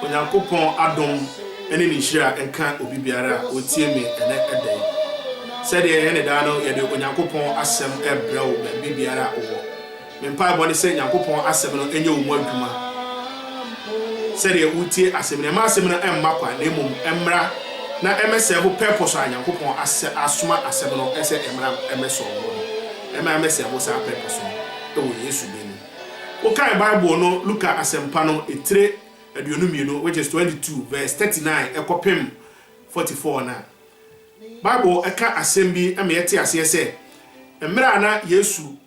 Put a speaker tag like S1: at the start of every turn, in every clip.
S1: Onyankopɔn adom ne ne nhyira nka obi biara a ɔtie me ɛnɛ da yi. Sɛdeɛ yɛyɛ no daa no, yɛde Onyankopɔn asɛm rebrɛ wo baabi biara a wowɔ. Me mpaebɔ ne sɛ Nyankopɔn asɛm no nyɛ wo mu adwuma sɛdeɛ wotie asɛm no. Ɛma asɛm no mma kwa na mmom ɛmmra na ɛmmɛsɛe ho purpose a Nyankopɔn asɛ asoma asɛm no sɛ ɛmmra mmɛsɔɔ ho no. Ɛma ɛmmɛsɛe ho saa purpose no wɔ Yesu din mu. Wokae Bible no Luka Asɛmpa no etire aduonu mmienu, which is twenty two verse thirty nine kɔpem forty four no a, Bible ka asɛm bi ma yɛte aseɛ sɛ, mmerɛ a na Yesu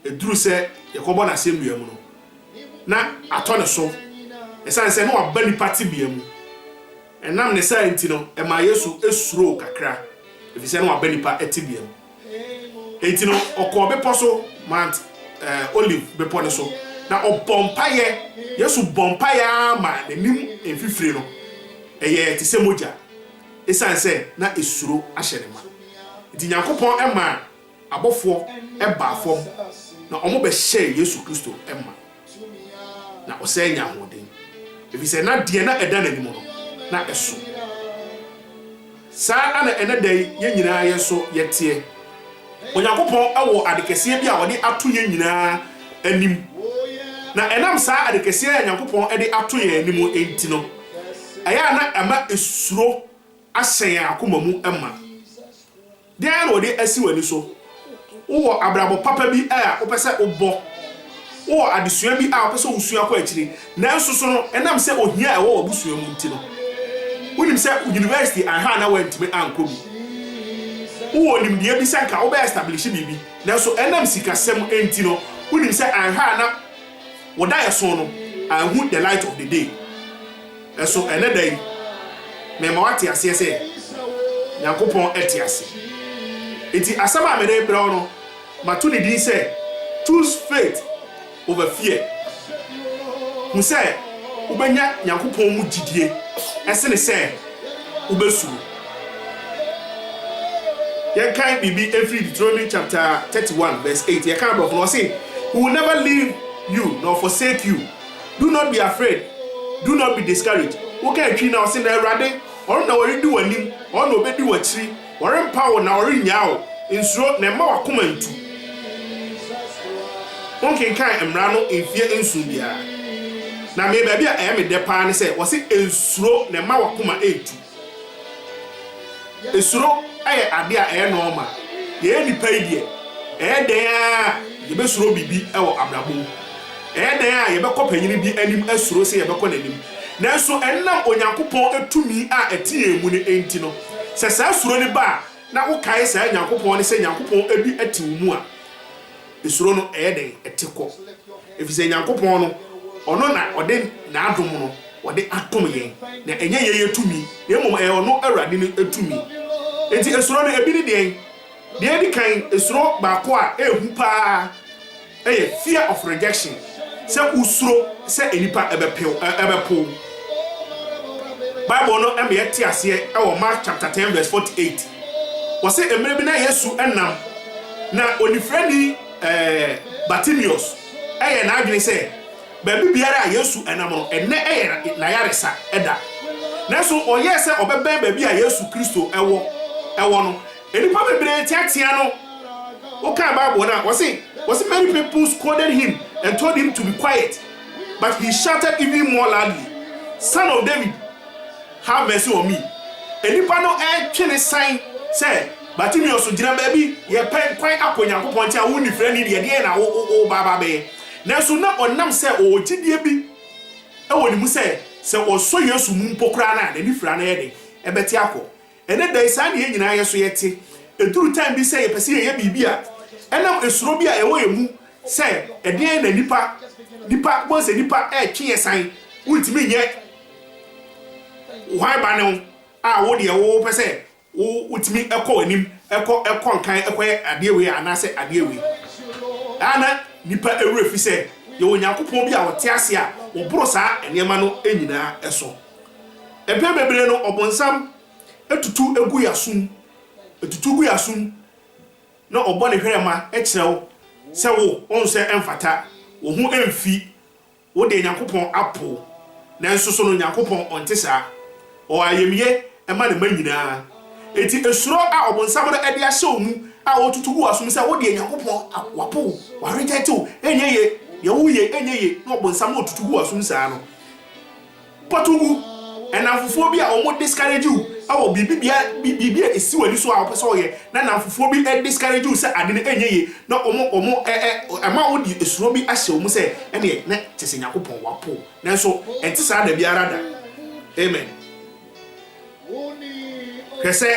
S1: duru sɛ yɛkɔbɔ no asɛnnua mu no, na atɔ ne so, ɛsiane sɛ na waba nnipa tebea mu. Ɛnam ne saa nti no, ɛmaa Yesu suroo kakra, ɛfiri sɛ na waba nnipa tebea mu. Enti no ɔkɔɔ bepɔ so, Mount Olive bepɔ no so, na ɔbɔɔ mpaeɛ. Yesu bɔɔ mpaeɛ ara ma n'anim mfifire no yɛɛ te sɛ mogya, ɛsiane sɛ na esuro ahyɛ no ma. Enti Nyankopɔn maa abɔfoɔ baa fam na wɔbɛhyɛɛ Yesu Kristo ma. na ɔsan nya ahoɔden, efisɛ na deɛ na ɛda n'anim no, na ɛso. Saa ara na ɛnnɛ da yi yɛn nyinaa yɛn nso yɛteɛ. Onyankopɔn wɔ ade kɛseɛ bi a ɔde ato yɛn nyinaa anim, na ɛnam saa ade kɛseɛ a Onyankopɔn de ato yɛn anim nti no, ɛyɛ a na ɛma esuro ahyɛ yɛn akoma mu ma. Dɛn na wɔde asi w'ani so? Wowɔ abrabɔ papa bi a wopɛ sɛ wobɔ? Wowɔ adesua bi a wopɛ sɛ wusua kɔ akyiri, nanso so no ɛnam sɛ ohia a ɛwɔ w'abusua mu nti no, wunim sɛ yunivɛsiti anha anaa woantumi ankɔ bi? Wowɔ nimdeɛ bi sɛ anka wobɛ establihye biribi, nanso ɛnam sikasɛm nti no, wunim sɛ anha a na wo daeɛso no anhu the light of the day? So ɛnnɛ da yi mema woate aseɛ sɛ Nyankopɔn te ase? Enti asɛm a merebrɛ wo no, mato ne din sɛ Choose Faith Over Fear. Hu sɛ wobɛnya Nyankopɔn mu gyidie sene sɛ wobɛsuro. Yɛnkan biribi mfiri Deuteronomy chapter 31 verse 8. Yɛka no Borɔfo no, ɔse, He will never leave you nor forsake you. Do not be afraid, do not be discouraged, woka atwi na ɔse na Awurade, Ɔno na ɔredi w'anim, Ɔno na ɔbɛdi w'akyiri, Ɔrempa wo na Ɔrennyaa wo, nsuro na mma w'akoma ntu. Wonkenkan mmara no mfeɛ nson biara. Na me baabi a ɛyɛ me dɛ paa ne sɛ wɔse nsuro na mma w'akoma ntu. Suro yɛ ade a ɛyɛ nɔɔma. Yɛyɛ nnipa yi deɛ, ɛyɛ dɛn ara a, yɛbɛsuro biribi wɔ abrabɔ mu. Ɛyɛ dɛn ara a, yɛbɛkɔ panin bi anim asuro sɛ yɛbɛkɔ n'anim. Nanso ɛnam Onyankopɔn tumi a ɛte yɛn mu no nti no, sɛ saa suro no ba a, na wokae saa Nyankopɔn no sɛ Nyankopɔn bi te wo mu a, Suro no, ɛyɛ dɛn? Ɛte kɔ, efisɛ Nyankopɔn no, Ɔno na Ɔde N'adom no Ɔde adom yɛn, na ɛnyɛ yɛn yɛn tumi, na mmom ɛyɛ Ɔno Awurade no tumi. Enti esuro no, ebi ne deɛn? Deɛ edi kan, esuro baako a ɛyɛ hu paa yɛ fear of rejection. sɛ wosuro sɛ nnipa bɛpow wo. Bible no ma yɛte aseɛ wɔ Mark chapter 10 verse 48. Wɔse mmerɛ bi na Yesu nam, na onifirani Bartimeus yɛ n'adwene sɛ baabi biara a Yesu nam no, ɛnnɛ yɛ n'ayaresa da. Nanso ɔyɛɛ sɛ ɔbɛbɛn baabi a Yesu Kristo wɔ no. Nnipa bebree teateaa no. Wokan Bible no a, wɔse, wɔse, Many people scolded him and told him to be quiet, but he shouted even more loudly, Son of David, have mercy on me! Nnipa no retwe no san sɛ, Bartimeus, gyina baabi, yɛrepɛn kwan akɔ Onyankopɔn nkyɛn a, wo onifirani deɛ, ɛdeɛn na woreba aba abɛyɛ? Nanso na ɔnam sɛ ɔwɔ gyidie bi wɔ ne mu sɛ, sɛ ɔsɔ Yesu mu mpo koraa no a, n'anifira no yɛ den, ɛbɛte akɔ. Ɛnnɛ da yi, saa na yɛn nyinaa yɛ. So yɛte eduru time bi sɛ yɛpɛ sɛ yɛyɛ biribi a ɛnam esuro bi a ɛwɔ yɛn mu sɛ ɛdeɛn na nnipa, nnipa, wobɛhu sɛ nnipa retwe yɛn san, wontumi nyɛ hwan ba ne wo a wo deɛ wo wopɛ sɛ wo wotumi kɔ w'anim, kɔ kɔ nkan kɔyɛ adeɛ wei anaasɛ adeɛ wei. Ɛa na nnipa werɛ fi sɛ yɛwɔ Nyankopɔn bi a ɔte ase a ɔboro saa nneɛma no nyinaa so. Mpɛn bebree no ɔbonsam tutu gu yɛn asom, tutu gu yɛn asom na ɔbɔ ne hwerɛma kyerɛ wo sɛ wo, wohu sɛ ɛmfata, wo ho mfi, wo deɛ Nyankopɔn apo wo. Nanso so no Nyankopɔn ɔnte saa? Ɔwɔ ayamyɛ ma ne mma nyinaa. Enti suro a ɔbonsam no de ahyɛ wo mu a ɔretutu gu w'asom sɛ wo deɛ Nyankopɔn wapo wo, wa reject wo, ɛnyɛ yie, deɛ woreyɛ ɛnyɛ yie, na ɔbonsam na ɔtutu gu w'asom saa no, Kɔtow gu nnamfofoɔ bi a wɔn discourage wo wɔ biribi bia biribi a ɛsi w'ani so a wopɛ sɛ woyɛ na nnamfofoɔ bi discourage wo sɛ ade no ɛnyɛ yie na wɔn wɔn ɛ ɛ ɛma wode suro bi ahyɛ wɔn mu sɛ ɛneɛ na kyɛ sɛ Nyankopɔn wapo wo nanso ɛnte saa da biara da amen hwɛ sɛ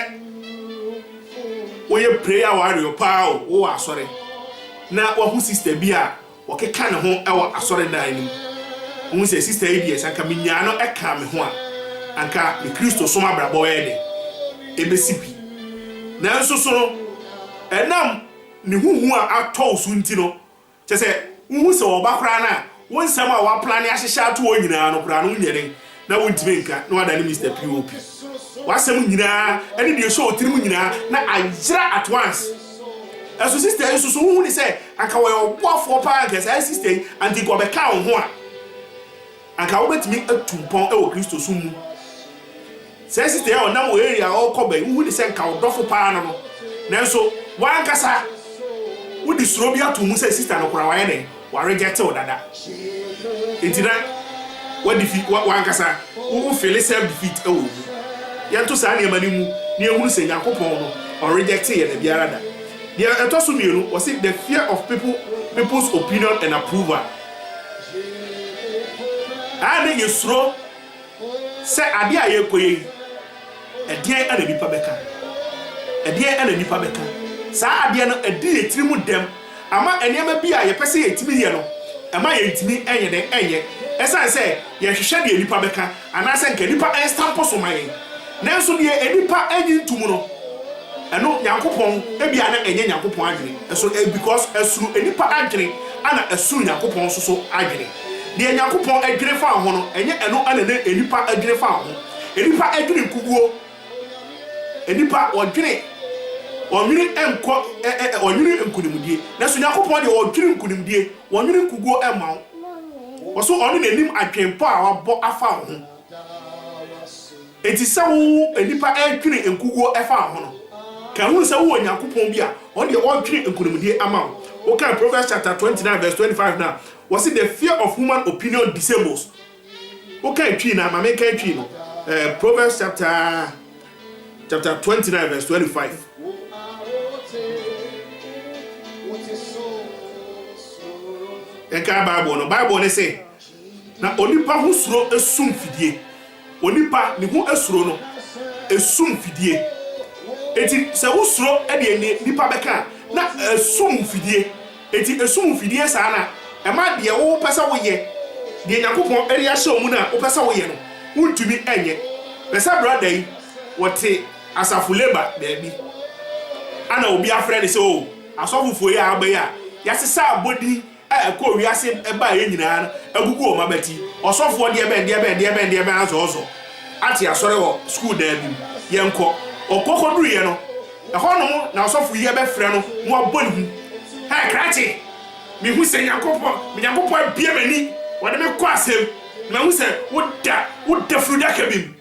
S1: woyɛ prayer warrior paa o wowɔ asɔre na wahu sister bi a Wɔkeka ne ho wɔ asɔredan no mu. Wohu sɛ sista yi deɛ, sɛ anka menyaa no kaa me ho a, anka me Kristosom abrabɔ bɛyɛ dɛn? Ɛbɛsi pi. Nanso so no, ɛnam ne ho hu a atɔ wo so nti no, kyerɛ sɛ, wohu sɛ ɔba koraa no a, wo nsɛm a woaplane ahyehyɛ ato hɔ nyinaa no koraa no, wonyɛ dɛn? na wontumi nka na wadane Mister POP. W'asɛm nyinaa ɛne deɛ ɛhyɛ otirim nyinaa na ayera at once. Ɛso sister yi nso so wohu ne sɛ anka wɔyɛ ɔboafoɔ paa anka saa sister yi anka nka ɔbɛka wo ho a anka wobɛtumi atu mpɔn ɛwɔ Kristo som mu. Saa sister yi a ɔnam wɔ area a ɔkɔ bɛyi wohu ne sɛ nka ɔdɔfo paa no no nanso wankasa wode suro bi ato mu sɛ sister no koraa wayɛ dɛn. W'aregɛte wo dada nti na w'adifi w'ankasa wo wo fili self defeat ɛwɔ wo mu. Yɛnto saa nneɛma no mu na yɛnhunu sɛ Nyankopɔn no ɔnregɛte yɛn dabiara da. Deɛ ɛtɔ so mmienu, wɔse the fear of people people's opinion and approval. Ɛyɛ a na yɛsuro Sɛ adeɛ a yɛrekɔyɛ yi, ɛdeɛn na nnipa bɛka? Ɛdeɛn na nnipa bɛka? Saa adeɛ no, ɛdi yɛn tiri mu dɛm. Ama nneɛma bi a yɛpɛ sɛ yɛtumi yɛ no, ɛma yɛntumi nyɛ dɛn nyɛ, ɛsiane sɛ yɛhwehwɛ deɛ nnipa bɛka, anaasɛ anka nnipa nstampo so ma yɛn. Nanso deɛ nnipa nnye nto mu no, ɛno Nyankopɔn, ebia na ɛnyɛ Nyankopɔn adwene. So ɛyɛ because ɛsono nnipa adwene, ɛna ɛsono Nyankopɔn nso so adwene? Deɛ Nyankopɔn adwene faa ho no, ɛnyɛ ɛno na na nnipa adwene faa ho. Nnipa adwene nkuguo. Nnipa wɔdwene, wɔnwene nkɔ ɛ ɛ wɔnwene nkunimdie. Nanso Nyankopɔn deɛ ɔdwene nkunimdie, wɔnwene nkuguo mma wo. Wɔso ɔno na nim adwenpɔ a wabɔ afa wo ho. Enti sɛ wo nnipa ɛredwene nkuguo ɛfa wo ho no, ka hunu sɛ wowɔ Nyankopɔn bi a ɔno deɛ ɔredwene nkunimdie ama wo. Wokan Proverbs chapter 29 verse 25 no a, Wɔse the fear of human opinion disables Wokan Twi no a, ma menkan Twi no, eh, Proverbs chapter chapter 29 verse 25. Yɛnkan Bible no, Bible no se, Na onipa ho suro sum fidie. Onipa ne ho suro no sum fidie. Enti sɛ wo suro deɛ nnipa bɛka a, na ɛsum wo fidie. Enti ɛsum wo fidie saa no a, ɛma deɛ wo pɛ sɛ woyɛ, deɛ Nyankopɔn de ahyɛ wo mu no a wo pɛ sɛ woyɛ no, wo ntumi nyɛ. Hwɛ sɛ brada yi, wɔte asafo labour baabi, ɛna obi afrɛ no sɛ oo, asɔfo foɔ yi a aba yi a, yɛasesa abɔdin, a ɛkɔɔ wiase baeɛ nyinaa no agugu wɔn abati. Ɔsɔfoɔ deɛ bɛn, deɛ bɛn, deɛ bɛn, deɛ bɛn ara sɛ ɔsɔ ate asɔre wɔ sukuu dan bi mu. Yɛnkɔ. Ɔkɔ kɔduruiɛ no, ɛhɔ nom na ɔsɔfo yi abɛfrɛ no na wabɔ ne hu. Hɛ, krakye! Mehu sɛ Nyankopɔn, me Nyankopɔn abue m'ani, wɔde me kɔ asɛm, na mahu sɛ woda, woda funudaka bi mu.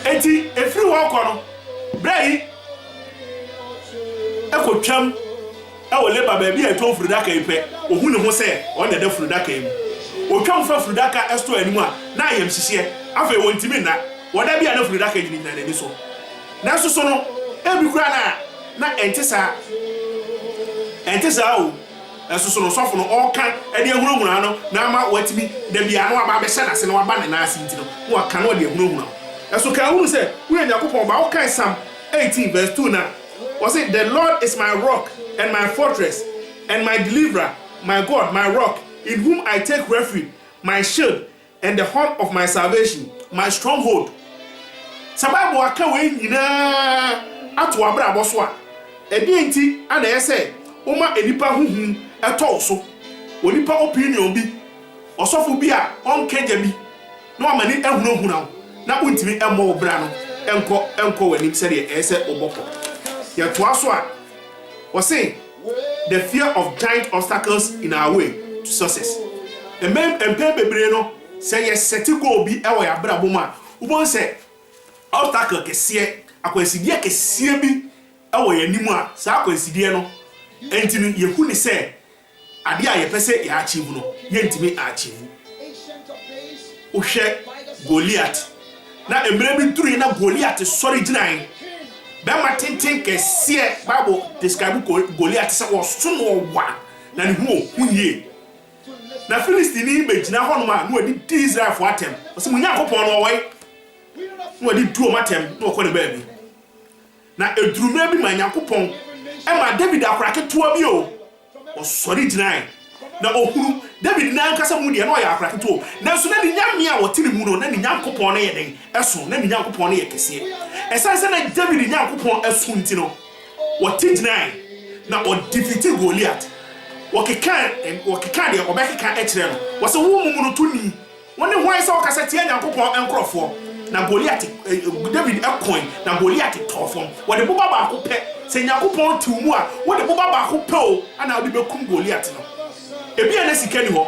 S1: Enti ɛfiri hɔ rekɔ no, berɛ yi kɔtwam wɔ Laban baabi a ɛtɔn furudaka yi pɛ, ɔhu ne ho sɛ ɔno na ɛda furudaka yi mu. Ɔtwam fa furudaka store anim a, na ayamhyehyeɛ. Afei ɔntumi nna. Ɔda bi a na furudaka nyinagyina n'ani so. Nanso so no, ebi koraa na na ɛnte saa? Ɛnte saa o. Nanso so na ɔsɔfo no ɔreka de ahunahuna no na ama watumi da biara na waba abɛhyɛ n'ase na waba ne nan ase nti no na waka na ɔde ahunahuna wo? Nanso kan hunu sɛ woyɛ Onyankopɔn ba. Wokae Psalm eighteen verse two no a, ɔse, The Lord is my rock and my fortress and my deliverer, my God, my rock, in whom I take refuge, my shield, And the horn of my salvation, my stronghold. Sɛ Bible aka wei nyinaa ato w'abrabɔ so a, ɛdeɛn nti na ɛyɛ sɛ woma nnipa ho hu tɔ wo so? Onipa opinion bi, ɔsɔfo bi a ɔnka gya bi, na wama ani ahunahuna wo na wontumi mmɔ wo bra no nkɔ nkɔ w'anim sɛdeɛ ɛyɛ sɛ wobɔkɔ. Yɛtoa so a, wɔse. The fear of giant obstacles in our way to success. Mpɛn bebree no, sɛ yɛ sɛte goal bi wɔ yɛn abrabɔ mu a, wobɛhu sɛ obstacle kɛseɛ, akwansideɛ kɛseɛ bi wɔ yɛn anim a, saa akwansideɛ no nti no, yɛhu no sɛ adeɛ a yɛpɛ sɛ yɛ achieve no, yɛntumi a achieve. Wohwɛ Goliath Na mmerɛ bi duruiɛ na Goliat sɔre gyinaeɛ. Bɛrima tenten kɛseɛ, Bible describe Goliat sɛ ɔso na ɔwa na ne ho ɔhu yie. Na Philistini yi bɛgyina hɔ nom a na wadi di Israelfoɔ atɛm. Ɔse mo Nyankopɔn no ɔwɔ he? Na wadi di wɔn atɛm na ɔkɔ ne baabi. Na eduru mmerɛ bi ma Nyankopɔn maa Dawid akora ketewa bi o, ɔsɔre gyinae, na ɔhunu Dawid n'ankasa mu deɛ, na ɔyɛ akora ketewa o, nanso na ne Nyame a ɔte ne mu no, na ne Nyankopɔn no yɛ dɛn? Ɛso, na ne Nyankopɔn no yɛ kɛseɛ. Ɛsiane sɛ na Dawid Nyankopɔn asu nti no, ɔte gyinae, na ɔdifiti Goliat. Wɔkekaa, wɔkekaa deɛ wɔbɛkeka kyerɛɛ no, wɔse, Wo momonoto ni! Wone hwan sɛ wokasa tia Nyankopɔn nkurɔfoɔ? Na Goliat, David koe, na Goliat tɔɔ fam. Wɔde boba baako pɛ. Sɛ Nyankopɔn te wo mu a, wode boba baako pɛ o na wode bɛkum Goliat no. Ebia na sika nni hɔ,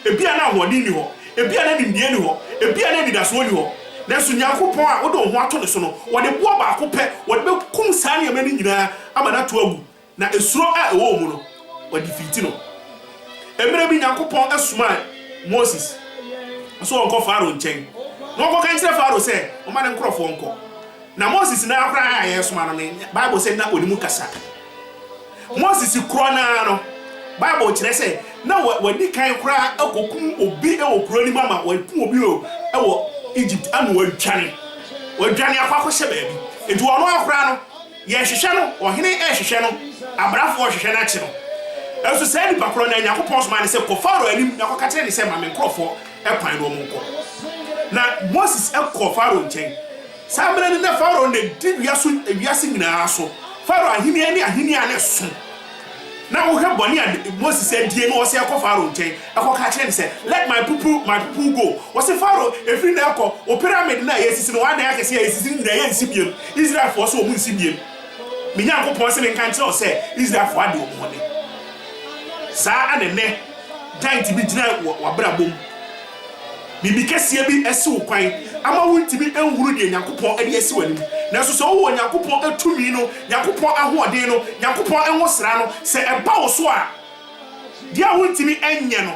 S1: ebia na ahoɔden nni hɔ, ebia na nimdeɛ nni hɔ, ebia na anidasoɔ nni hɔ, nanso Nyankopɔn a wode wo ho ato Ne so no, wɔde boɔ baako pɛ, wɔde bɛkum saa nneɛma no nyinaa ama no ato awu. Na esuro a ɛwɔ wɔn mu no, wɔde fiiti no. Mmerɛ bi Nyankopɔn somaa Moses sɛ ɔnkɔ Farao nkyɛn na ɔnkɔka nkyerɛ Farao sɛ ɔma ne nkorɔfoɔ nkɔ. Na Moses no ara koraa a yɛresoma no no, Bible sɛ na ɔnim kasa. Moses korɔ no ara no, Bible kyerɛ sɛ na wadi kan koraa akɔkum obi wɔ kuro no mu ama wakum obi wɔ Egypt ama wadwane. Wadwane akɔ akɔhyɛ baabi. Nti ɔno ara koraa no, Yɛnhwehwɛ no, ɔhene rehwehwɛ no, abrafo rehwehwɛ no akye no. Nanso saa nipa korɔ no ara Nyankopɔn somaa no sɛ, Kɔ Farao anim na kɔka kyerɛ no sɛ, Ma me nkurɔfoɔ kwan na wɔnkɔ. Na Moses kɔɔ Farao nkyɛn. Saa mmerɛ no na Farao na di wiase wiase nyinaa so, Farao ahennie ne ahennie a na ɛso. Na wohwɛ bɔne a Moses adie na wɔse ɛkɔ Farao nkyɛn ɛkɔ ka kyerɛ no sɛ let my people my people go wɔse Farao ɛfiri na ɛkɔ wo pyramid no a yɛsisi no w'adan akɛseɛ a yɛsisi no nyinaa yɛ nsi biam Israelfoɔ so wɔn nsi biam me Nyankopɔn se me nka nkyerɛ wo sɛ Israelfoɔ ade wɔn ho ne saa ana nɛ giant bi gyina w'abrabɔ mu Biribi kɛseɛ bi asi wo kwan ama wontumi nhunu deɛ Nyankopɔn de asi w'anim. Nanso sɛ wowɔ Nyankopɔn tumi no, Nyankopɔn ahoɔden no, Nyankopɔn nwosra no, sɛ ɛba wo so a, deɛ a wontumi nyɛ no,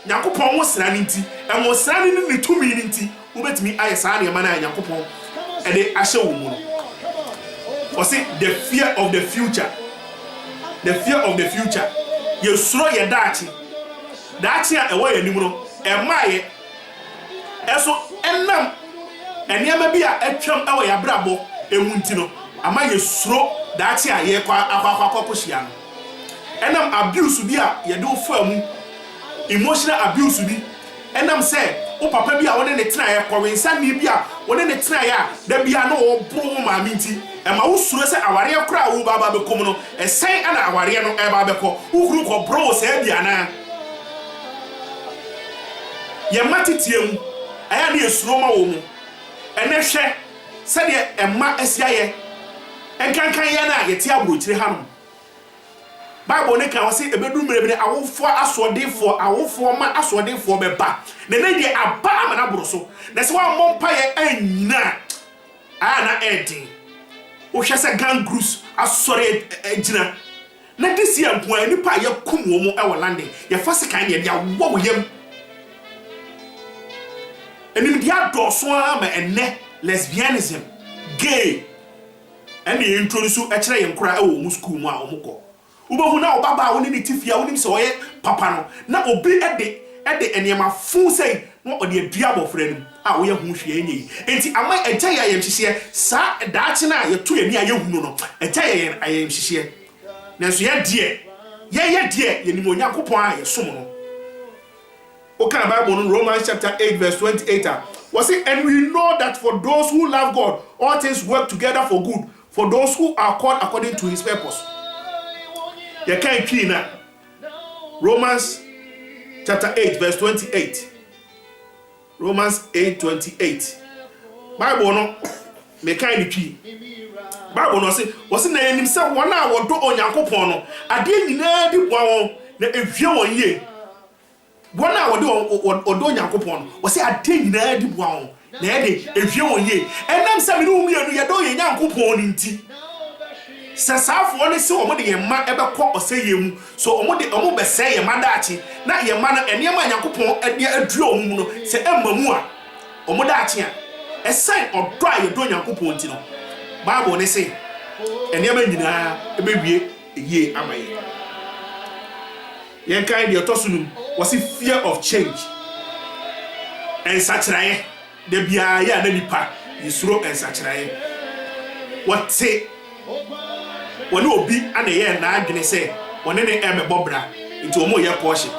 S1: Nyankopɔn nwosra no nti, nwosra no ne Ne tumi no nti, wobɛtumi ayɛ saa nneɛma no a Nyankopɔn de ahyɛ wo mu no. Ɔse, the fear of the future, the fear of the future, yɛsuro yɛn daakye. Daakye a ɛwɔ yɛn anim no, ɛmmaeɛ. Nso ɛnam nneɛma bi a atwam wɔ yɛn abrabɔ mu nti no, ama yɛsuro daakye a yɛrekɔ akɔhyia no. Ɛnam abuse bi a yɛde wo faa mu, emotional abuse bi, ɛnam sɛ wo papa bi a wo ne no tenaeɛ, kɔwensani bi a wo ne no tenaeɛ a da biara na ɔreboro wo maame nti, ɛma wosuro sɛ awareɛ korɔ a woreba abɛkɔ mu no, Sɛn na awareɛ no reba abɛkɔ? Wo kunu kɔborɔ wo saa bi anaa? Yɛn mma teteɛ mu, ɛyɛ a na yɛsuro ma wɔn. Ɛnnɛ hwɛ sɛdeɛ mma asi ayɛ nkanka yɛn a yɛte aburokyire hanom. Bible no ka, ɔse ɛbɛduru mmerɛ bi no awofoɔ asoɔdenfoɔ, awofoɔ mma asoɔdenfoɔ bɛba. Na ɛnnɛ yi deɛ aba ama no aboro so. Na sɛ woammɔ mpaeɛ annyina a, a na ɛyɛ den. Wohwɛ sɛ gang groups asɔre agyina na this year nko ara nnipa a yɛakum wɔn wɔ London, yɛfa sekan na yɛde awowɔ wo yam. Animdeɛ adɔɔso ara ma ɛnnɛ lesbianism, gay ɛna yɛ introduce kyerɛ yɛn nkwadaa wɔ wɔn school mu a wɔkɔ. Wubehu na ɔbabaa a wo ne no te fie a wunim sɛ ɔyɛ papa no, na obi de de nneɛma fuu sɛe na ɔde adua abofra no mu a woyɛ ho hwee nyɛ yi. Enti ama Agya yɛ ayamhyehyeɛ saa daakye no a yɛto yɛn ani a yɛhu no no. Agya yɛ yɛn ayamhyehyeɛ. Nanso yɛn deɛ, yɛyɛ deɛ yɛnim Onyankopɔn a yɛsom no. Wokan Bible no Romans chapter eight verse twenty eight a, wɔse, And we know that for those who love God, all things work together for good, For those who are called according to his purpose. Yɛkae twii no a, Romans chapter 8 verse 28. Romans 8 28. Bible no, mekae no twii. Bible no ɔse, ɔse na yɛnim sɛ wɔn a wɔdɔ Onyankopɔn no, adeɛ nyinaa di boa wɔn na ɛhwie wɔn yie. Wɔn a wɔde wɔn ɔdɔ Onyankopɔn no, ɔsɛ adeɛ nyinaa di boa wɔn, na ɛyɛ den, ɛhwie wɔn yie. Ɛnam sɛ me ne wo mmienu yɛdɔ yɛn Nyankopɔn no nti, sɛ saa afoɔ no se wɔn de yɛn mma bɛkɔ ɔsɛeɛ mu, so wɔn de wɔn bɛsɛe yɛn mma daakye, na yɛn mma no, nneɛma a Nyankopɔn de adua wɔn mu no, sɛ amma mu a, wɔn daakye a. Ɛsiane ɔdɔ a yɛdɔ Onyankopɔn nti no, Bible no se nneɛma nyinaa bɛwie. yie ama yɛn. Yɛnkae deɛ ɛtɔ so num, wɔse fear of change, nsakyeraeɛ. Da biara yɛ a na nipa yɛsuro nsakyeraeɛ. Wɔte wɔne obi ana ɛyɛɛ n'adwene sɛ wɔne ne ɛmɛbɔ bra, nti wɔn yɛ kɔɔhye.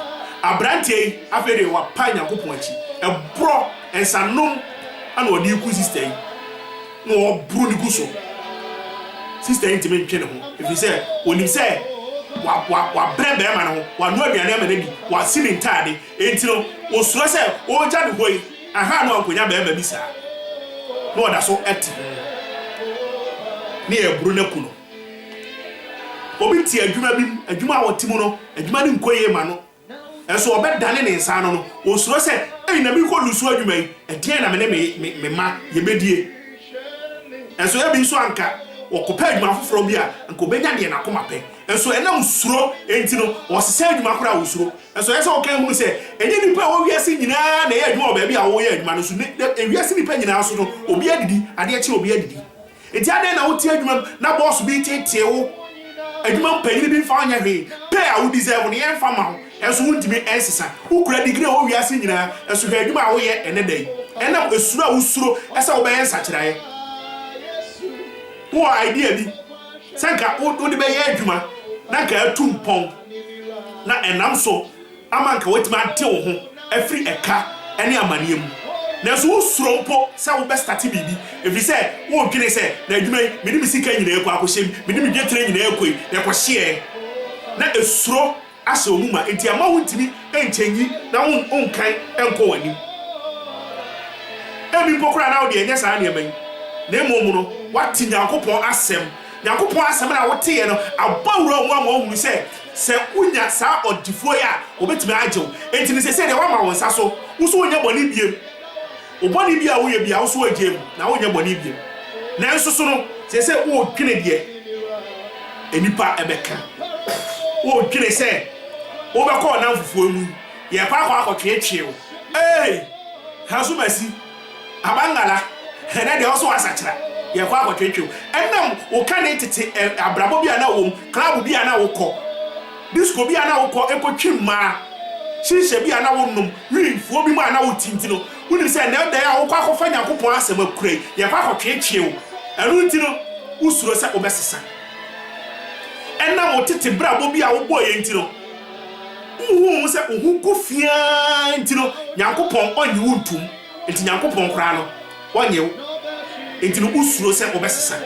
S1: Abranteɛ yi afei deɛ wapa Nyankopɔn akyi, ɛborɔ nsanom ana ɔde reku sister yi. na ɔboro no gu so. Sista yi ntumi ntwe ne ho ɛfiri sɛ ɔnim sɛ wabrɛ barima no ho, wano aduane ama no adi, wasi ne ntaade, enti no ɔsuro sɛ ɔregya ne hɔ yi aha no ankɔnya barima bi saa na ɔda so te ho na yɛreboro no aku no. Obi te adwuma bi mu, adwuma a ɔte mu no, adwuma no nkɔ yie ma no. Nanso ɔbɛdane ne nsa ano no, ɔsuro sɛ, 'Ei, na merekɔ nusu adwuma yi, ɛdeɛn na me ne me me mma yɛbɛdie? Nanso ebi nso anka ɔkɔpɛ adwuma foforɔ bi a, anka ɔbɛnya deɛ n'akoma pɛ. Nanso ɛnam suro nti no, ɔsesa adwuma koraa a ɔsuro. Nanso ɛyɛ sɛ wokan hunu sɛ, ɛnyɛ nnipa a ɛwɔ wiase nyinaa na ɛyɛ adwuma wɔ baabi a wɔyɛ adwuma no so. Nnɛ, wiase nnipa nyinaa so no, obiara didi, adeɛ kye a obiara didi. Enti adɛn na wote adwuma mu na bɔɔso bi reteetee wo, adwuma mu panyin bi mfa wo nyɛ hwee, pay a wo deserve no yɛmfa mma wo, nanso wuntumi nsesa? Wokura digiri a ɛwɔ wiase nyinaa, nanso hwɛ adwuma a woyɛ nnɛ da yi. Ɛnam suro a wusuro sɛ wobɛyɛ nsakyeraɛ. Wowɔ idea bi sɛ anka wode bɛyɛ adwuma na anka atu mpɔn na ɛnam so. ama anka woatumi ate wo ho afiri ɛka ne amanneɛ mu. Nanso wosuro mpo sɛ wobɛstate biribi, ɛfiri sɛ wodwene sɛ, 'Na adwuma yi, mede me sika nyinaa akɔ akɔhyɛ mu, mede me dwetire nyinaa akɔ yi, na ɛkɔhye ɛ? Na suro ahyɛ wo mu ma enti ɛmma wontumi nkyɛnyi na wonkan nkɔ w'anim. Ebi mpo koraa na wo deɛ ɛnyɛ saa nneɛma yi, na mmom no, woate Nyankopɔn asɛm Nyankopɔn asɛm no a woteeɛ no abɔ wura wɔn ma wɔahunu sɛ, sɛ wonya saa ɔdefoɔ yi a, wɔbɛtumi agye wo. Enti no seesei deɛ woama wo nsa so, wo so wonyɛ bɔne biem. Wo bɔne biara a woyɛ biara, wo so woagyae mu, na wonyɛ bɔne biem. Nanso so no, seesei woredwene deɛ nnipa bɛka. Woredwene sɛ wobɛkɔ ɔnamfofoɔ mu, yɛrekɔ akɔ akɔtweetwee wo. Ei! Hasumasi, Abangala, Ɛnnɛ deɛ wo so asakyera, yɛkɔ akɔtwetwe wo. Ɛnam wo kane tete abrabɔ bi a na wowɔ mu, club bi a na wokɔ, disco bi a na wokɔ kɔtwe mmaa, shisha bi a na wonom, wimfoɔ bi mu a na wote nti no, wonim sɛ ɛnnɛ da yi a wokɔ akɔfa Nyankopɔn asɛm akura yi, yɛkɔ akɔtwetwe wo. Ɛno nti no, wosuro sɛ wobɛsesa. Ɛnam wo tete brabɔ bi a wobɔeɛ nti no. Wonhuu mu sɛ wo ho gu fi ara nti no, Nyankopɔn ɔnnye wo ntom. Enti Nyankopɔn koraa no, ɔnnye wo. Enti no wosuro sɛ wobɛsesa.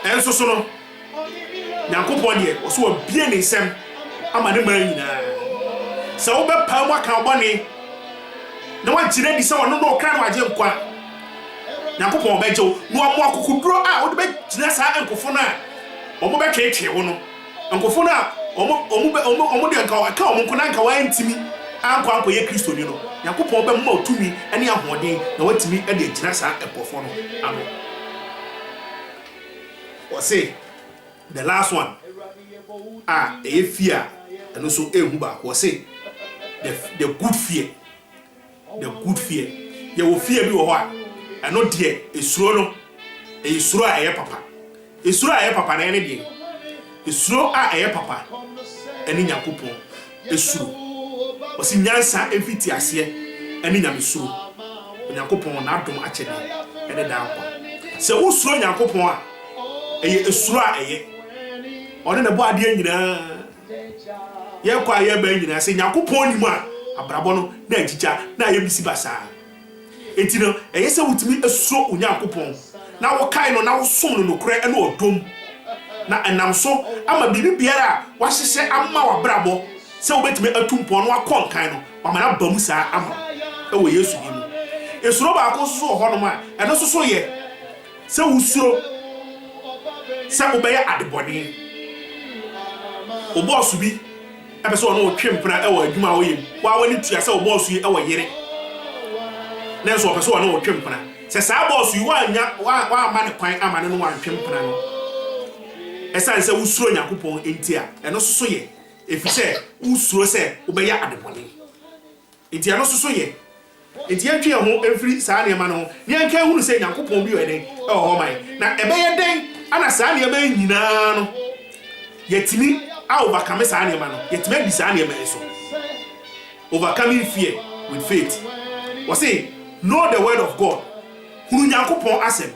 S1: Nso so no, Nyankopɔn deɛ, ɔso wabie ne nsam ama ne man nyinaa. Sɛ wobɛpaa mu aka wo bɔne na wagye no adi sɛ ɔno na ɔkra na wagye nkwa, Nyankopɔn bɛgye wo na wamu akokoduro a wode bɛgyina saa nkofo no a wɔn bɛtweetwee wo no. Nkofo no a wɔn deɛ nka ɛka wɔn nko na nka wɔantumi ankɔ ankɔyɛ Kristoni no, Nyankopɔn bɛma wo tumi ne ahoɔden na woatumi de agyina saa nkorɔfoɔ no ano. Wɔse, the last one a ɛyɛ fear a ɛno nso ɛnhu baako, wɔse the, the good fear. The good fear. Yɛwɔ fear bi wɔ hɔ a, ɛno deɛ esuro no, ɛyɛ suro a ɛyɛ papa. Esuro a ɛyɛ papa no ɛne deɛ? Esuro a ɛyɛ papa ɛne Nyankopɔn esuro. Wɔsi nyansa mfiti aseɛ ɛne Nyamesuro. Onyankopɔn n'adom akyɛdeɛ ɛne daa nkwa. Sɛ wosuro Nyankopɔn a, ɛyɛ esuro a ɛyɛ. Ɔne na ɛbɔɔ adeɛ nyinaa. Yɛkɔ a yɛba nyinaa, sɛ Nyankopɔn nni mu a, abrabɔ no na agyigya na ayɛ bisibasaa. Enti no, ɛyɛ sɛ wotumi suro Onyankopɔn, na wokae no na wosom no nokorɛ ne ɔdɔ mu, na ɛnam so ama biribi biara a wahyehyɛ ama w'abrabɔ sɛ wobɛtumi atu mpɔn na wakɔ nkan no, wama no aba mu saa ama wo wɔ Yesu din mu. Nsuro baako nso so wɔ hɔnom a, ɛno nso so yɛ Sɛ wusuro sɛ wobɛyɛ adebɔne. Wo bɔɔso bi pɛ sɛ ɔne wo twe mpena wɔ adwuma a woyɛ mu. Wo ara w'ani tua sɛ wo bɔɔso yi wɔ yere, nanso ɔpɛ sɛ ɔne wo twe mpena. Sɛ saa bɔɔso yi woannya, woamma no kwan amma ne ne wantwe mpena no esiane sɛ wusuro Onyankopɔn nti a, ɛno nso so yɛ efisɛ wusuro sɛ wobɛyɛ adebɔne. Enti ɛno nso so yɛ. Enti yɛntwe yɛn ho mfiri saa nneɛma no ho na yɛnka nhunu sɛ Nyankopɔn bi a ɔyɛ dɛn wɔ hɔ ma yɛn. Na ɛbɛyɛ dɛn na saa nneɛma yi nyina ara no yɛatumi a overcome saa nneɛma no? Yɛatumi adi saa nneɛma yi so. Overcoming fear with faith. Wɔse know the word of God, hunu Nyankopɔn asɛm.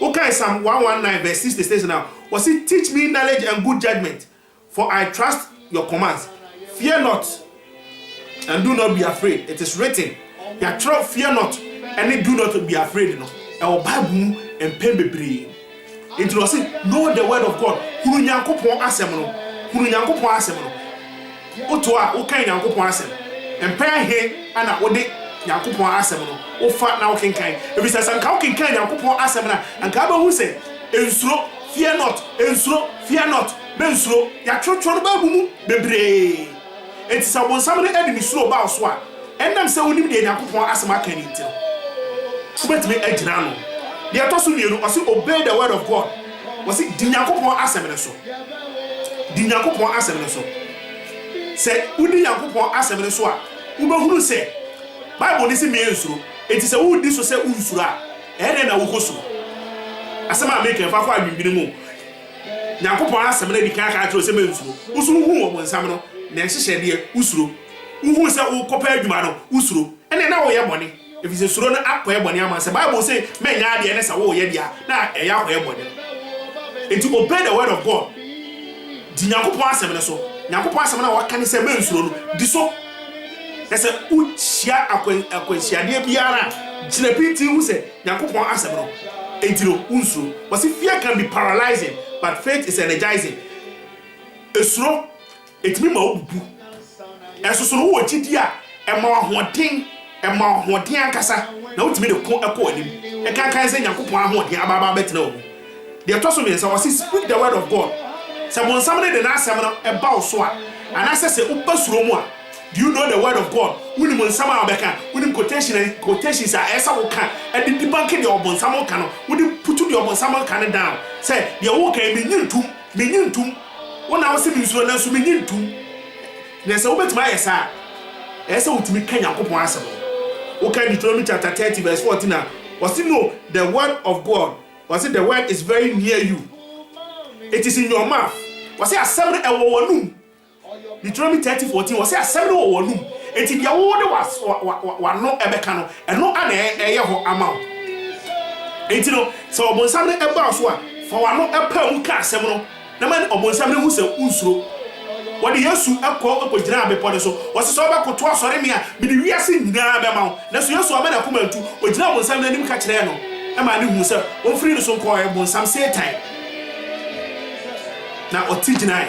S1: Wokae Psalm 119 verse 66 no a, wɔse teach me knowledge and good judgement, for I trust your commands, fear not and do not be afraid, it is written, yɛatwerɛ fear not ɛne do not be afraid no ɛwɔ Bible mu mpɛn bebree. Nti na ɔse know the word of God, hunu Nyankopɔn asɛm no, hunu Nyankopɔn asɛm no. Woto a wokan Nyankopɔn asɛm, mpɛn ahe ana wode Nyankopɔn asɛm no wofa na wokenkan? Ɛfiri sɛ sɛ anka wokenkan Nyankopɔn asɛm no a, anka wobɛhu sɛ nsuro, fear not. Nsuro, fear not, mensuro, yɛatwerɛtwerɛ no baabu mu bebree. Enti sɛ ɔbonsam no de ne suro ba wo so a, ɛnam sɛ wonim deɛ Nyankopɔn asɛm aka no nti no, wobɛtumi agyina ano. Deɛ ɛtɔ so mmienu, ɔse obey the word of God, wɔse di Nyankopɔn asɛm no so, di Nyankopɔn asɛm no so. Sɛ wodi Nyankopɔn asɛm no so a, wobɛhunu sɛ Bible no se mensuro, enti sɛ wodi so sɛ wonsuro a, Ɛɛdɛn na wokɔ su? Asɛm a meka yi fa kɔ adwendwene mu. Nyankopɔn asɛm no adi kan aka akyerɛ wo sɛ mensuro. Wo so wohuu ɔbonsam no ne nhyehyɛdeɛ, wosuro. Wohuu sɛ wokɔpɛ adwuma no, wosuro. Ɛnneɛ na woreyɛ bɔne, ɛfiri sɛ suro no akɔyɛ bɔne ama wo. Sɛ Bible se mɛnyɛ adeɛ ne sɛ woreyɛ deɛ a, na ɛyɛ akɔyɛ bɔne. Enti obey the word of God. Di Nyankopɔn asɛm no so. Nyankopɔn asɛm no a waka ne sɛ mensuro no, di so. Na sɛ wohyia akwan, akwanhyiadeɛ biara a, gyina pintinn hu sɛ Nyankopɔn Asɛm no enti no wonsuro. Wɔse fear can be paralyzing but faith is energizing. Esuro, ɛtumi ma wobubu. Ɛnsoso no wowɔ gyidie a, ɛma wo ahoɔden, ɛma wo ahoɔden ankasa na wotumi de ko kɔ w'anim. Ɛkankan sɛ Nyankopɔn ahoɔden aba aba abɛtena wo mu. Deɛ ɛtɔ so mmiɛnsa, wɔse, Speak the word of God. Sɛ bonsam no de n'asɛm no ba wo so a, anaasɛ sɛ woba suro mu a, do you know the word of God? Wonim nsɛm a ɔbɛka? Wonim quotation, quotations a ɛyɛ sɛ woka de debunke deɛ ɔbonsam reka no? Wode putu deɛ ɔbonsam reka no down sɛ, deɛ woreka yi, mennye ntom, mennye ntom. Wo na wose mensuro nanso mennye ntom. Na sɛ wobɛtumi ayɛ saa a, ɛyɛ sɛ wotumi ka Nyankopɔn asɛm no. Woka Deuteronomy chapter 30 verse 14 a, wɔse, No, the word of God. Wɔse the word is very near you, it is in your mouth. Wɔse asɛm no ɛwɔ w'anum. Deuteronomy 30, 14, wɔse asɛm no wɔ w'anum. Enti deɛ wo de w'ano ɛbɛka no, ɛno ana ɛyɛ hɔ ama wo. Enti no, sɛ ɔbonsam no ɛbaa so a, fa w'ano ɛpaa mu ka asɛm no, Na ma ɔbonsam no hu sɛ wonsuro. Wɔde Yesu kɔ kogyinaa bepɔ no so. Wɔse sɛ wobɛkoto asɔre me a, mede wiase nyinaa bɛma wo. Nanso Yesu amma n'akoma antu. Ogyinaa ɔbonsam no anim ka kyerɛɛ no maa no huu sɛ wɔmfiri no so nkɔɔɛ. Bonsam Satan na ɔte gyinaɛ.